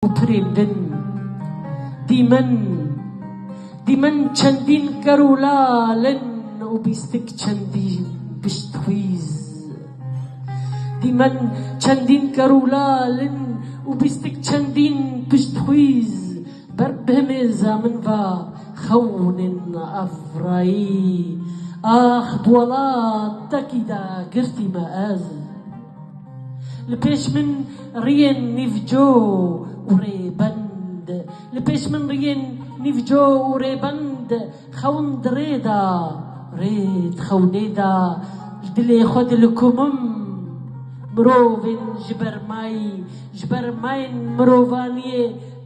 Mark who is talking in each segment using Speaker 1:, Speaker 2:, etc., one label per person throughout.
Speaker 1: û pirên din. Dîmen, dîmen çendîn ker û lal in û bîstik çendîn piştxwîz. Dîmen, çendîn ker û lal in û bîstik çendîn piştxwîz ber bi himê zamin va xewnin Afrayî, ax bi welatekî de girtîme ez. Li pêş min riyên nîvco û rêbend Li pêş min riyên nîvco û rêbend Xewim di rê da, rê di xewnê da Li dilê xwe dilikumim mirovên ji ber may Ji ber mayên mirovaniyê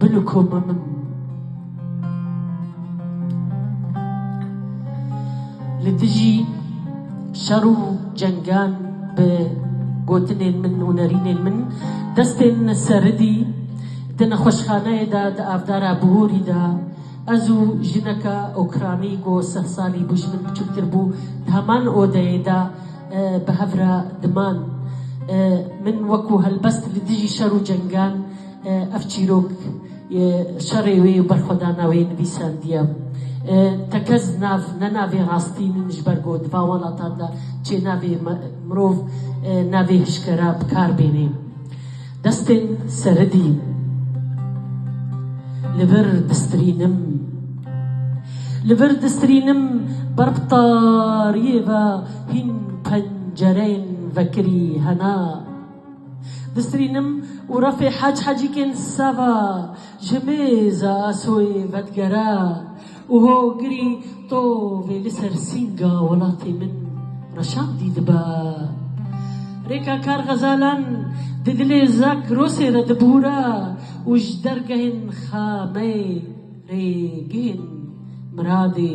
Speaker 1: Bilo ku me min li dijî şer û cengan bi gotinên min û nerînên min destên seridî di nexweşxaneyê de di avdara bihorî de ez û jineke ûkranî ku seh salî bû ji min biçûktir bû di heman odeyê de bi hev re diman. Min wekû helbest li dijî şer û cengan Ev çîrok şerê wê û berxwedana wê nivîsandiye. Tekez nav ne navê rastî nin ji ber ku di van welatan de çê navê mirov navê hişkera bi kar bênê. Destên seridî li vir distrînim. Li vir distrînim ber bi tariyê ve hîn pencereyên vekirî hena. Disrînim û refê Hec Hecîkên Seva ji mêza asoyê vedigere û hogirî tovê li ser sînga welatê min reşandî dibe. Rêka kar xezalan di dilê Zakrosê de dibûre û ji dergehên Xameyê rê bihên miradê.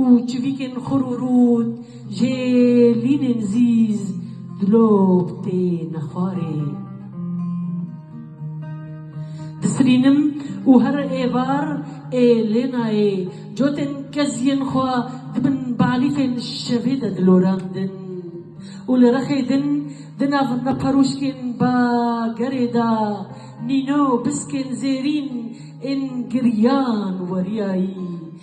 Speaker 1: Û çivîkên xur û rût jê lînên zîz dilop têne xwarê. Disirînim û her êvar ê lê nayê. Cotên keziyên xwe di bin balîfên şevê de dilorandin û li rexê din di nav neperûşkên bagerê de nîno biskên zêrîn ên giriyan weriyayî.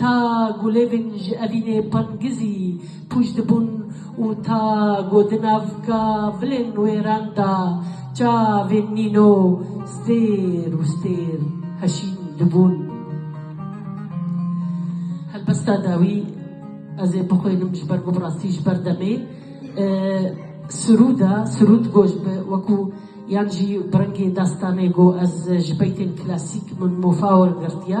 Speaker 1: Ta gulêvên ji evînê pangizî pûç dibûn û ta ku di navka vilên wêran de çavên nîno stêr û stêr heşîn dibûn. Helbesta dawî ez ê bixwînim ji ber ku bi rastî ji ber demê sirûd e, sirûd goş bi wekû yan jî bi rengê destanê ku ez ji beytên klasîk min mofa wergirtiye.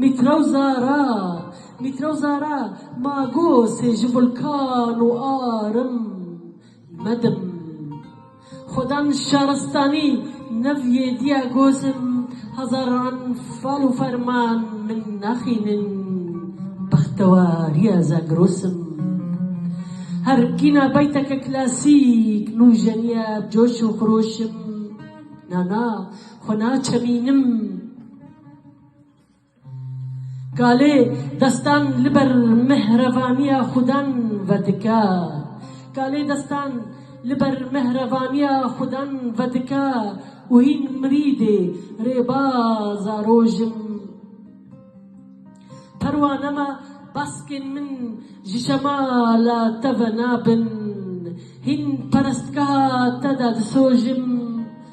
Speaker 1: Mîtro Zara Mîtro Zara Ma gosê ji vulkan û arim medim Xwedan şaristanî Nev yê diya gosim Hezaran fal û ferman Min naxînin Bextewariya Zagrosim Her kîna beyteke klasîk Nûjeniya bi coş û xirûşim Na na xwe naçemînim. Kalê destan li ber mihrevaniya Xudan vedike. Kalê destan li ber mihrevaniya Xudan vedike û hîn mirîdê rêbaza roj im. Perwane me baskên min ji şemala te ve nabin. Hîn perestgeha te de disojim.